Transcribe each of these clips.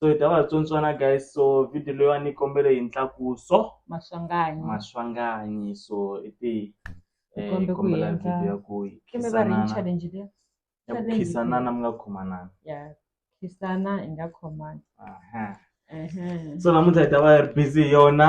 so hi ta va tsontswana guys so video leyiwani yi kombele hi ntlakuso maswanganyi maswanganyi so i ti eh, Kombe ku kombela endla- video ya ku hi kime va ri khisanana challenge leyi ya ku challenge khisanana mi nga khomanana ya khisana hi nga khomani aha Ehe. so namuntlha hi ta va hi ri busy hi yona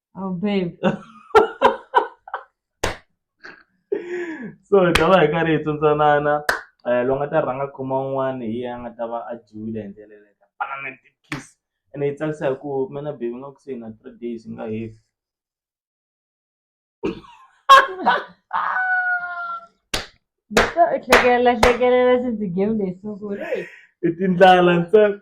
Oh, babe. so hi ta va hi karhi hi tsundsanana um eh, loyi nga ta rhanga kuma un'wana hi ya nga ta va a dyiwile hi ndlela leyi ta panana ti-kiss ene yi tsakisa hi ku mina bebi nga ku se na three days nga hefi hlekelela hlekelela since game leyi sungule i tindlala ntsena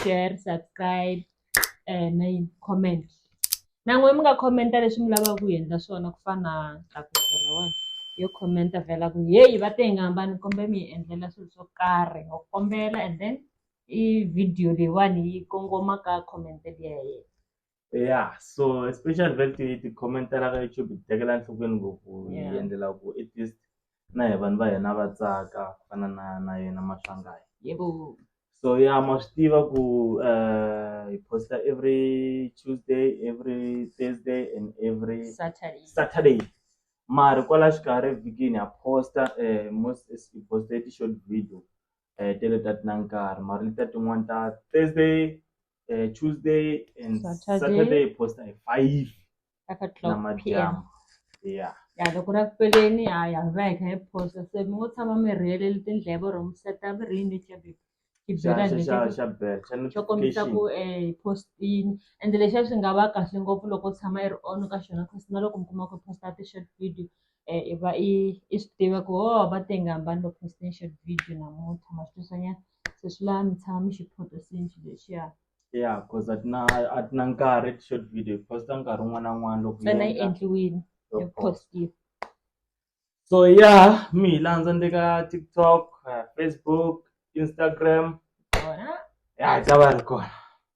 share subscribe na yini comment na n'we mi nga comment-a leswi mi lavaka ku hi endla swona ku fana na yo comment vhela ku heyi va te hi nga hambani kombe mi hi endlela swilo swo karhi ho kombela and then i video leyiwani yi kongoma ka comment ya yena. ya so especially vat ti-comment-ela ka YouTube ti tekela enhlokweni ngopfu hi endlela ku i just na hi vanhu va hina va tsaka ku fana na na yena Maswangayi so ya ma swi tiva ku hi post-a every Tuesday every Thursday and every Saturday mara kwala xikarhi evhikini ha post-a most hi post-e ti-short video tele ta ti na nkarhi mara letiya tin'wani ta Thursday. uh, tuesday and saturday, saturday posta hi 5 namadyambo yeah ya loko ra ku peleni ya ya veka hi posta se mi ngo tshama mi rheleli tindleve or mi seta mi rini xabe xo kombisa ku um eh, postini and lexiya swi nga va kahle ngopfu loko tshama yi ri on ka xona cause na loko mi kuma ku posta ti-short video um i va i i swi tiva ku ho oh, va tengambani loko postini short video namuntlha ma swi twisanyana se swi lava mi tshama mi xi photosini xilo lexiya ya cause a ti na a ti na nkarhi ti-short video hi posta nkarhi wun'wana na wun'wana loko hi ntsena yi endla. endliwile Yo yi post. postiwa so ya mi hi landza ni le ka tiktok eh, facebook instagram kona ya hi ta va yi ri kona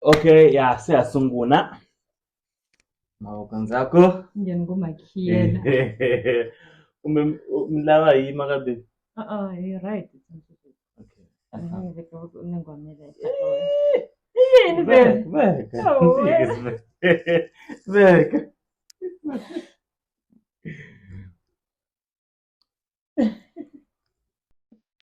Okay, ya se ya sungula. Mavoko ndzhaku. Njhe ni ku makhiyela. Kumbe mi lava hi yima ka baby? Uh-uh, ah, you're ah, right. Okay. Yini vele? Veka. Veka.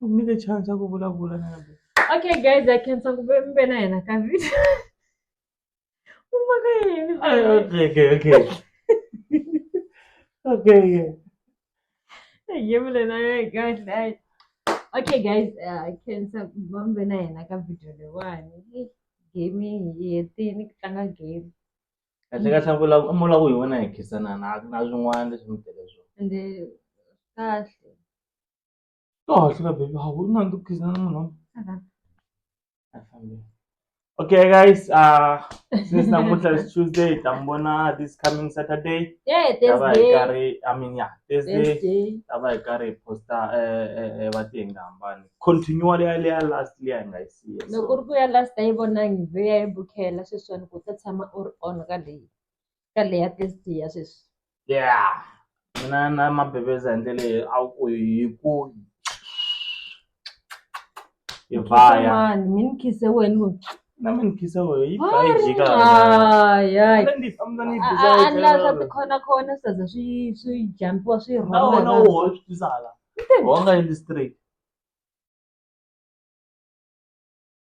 u nyike chance ya ku vulavula na yena okay guys i khensa ku ve mi ve na yena ka video u maka yini Ay, okay okay okay okay yeah. yevule na yena kahle ayi okay guys uh, i khensa ku va mi ve na yena ka video leyiwani Hey, game hi hetini ku tlanga game kahle kahle a vula- a vula ku hi wena hi khisanana a ku na swin'wana leswi mi tele swona ende kahle Kahle ka baby hawu unandi ukugizana nxina. Afambile. Okay guys, uh since namuntlha is Tuesday, hi ta mi vona this coming Saturday. Yeah, Ta va hi Thursday. karhi I mean yeah, Thursday. Thursday. Ta va hi karhi hi posta eh eh eh va ti hi nga hambani. Continue leya leya last leya hi nga yi siya. Loko So, ri ku ya last a yi vonangi vhe ya yi bukela sweswiwani ku ta tshama u ri on ka leyi. ka leya ya sweswi ya mina na mabebeza hi ndlela leyi a ku hi ku hi vaya mani mi ni khise wena ku na mi ni khise wena yi ba yi jika anlasa tikhona khona swi za swi swi jampiwa swi rhona na wona wo swi tisala wonga endli straight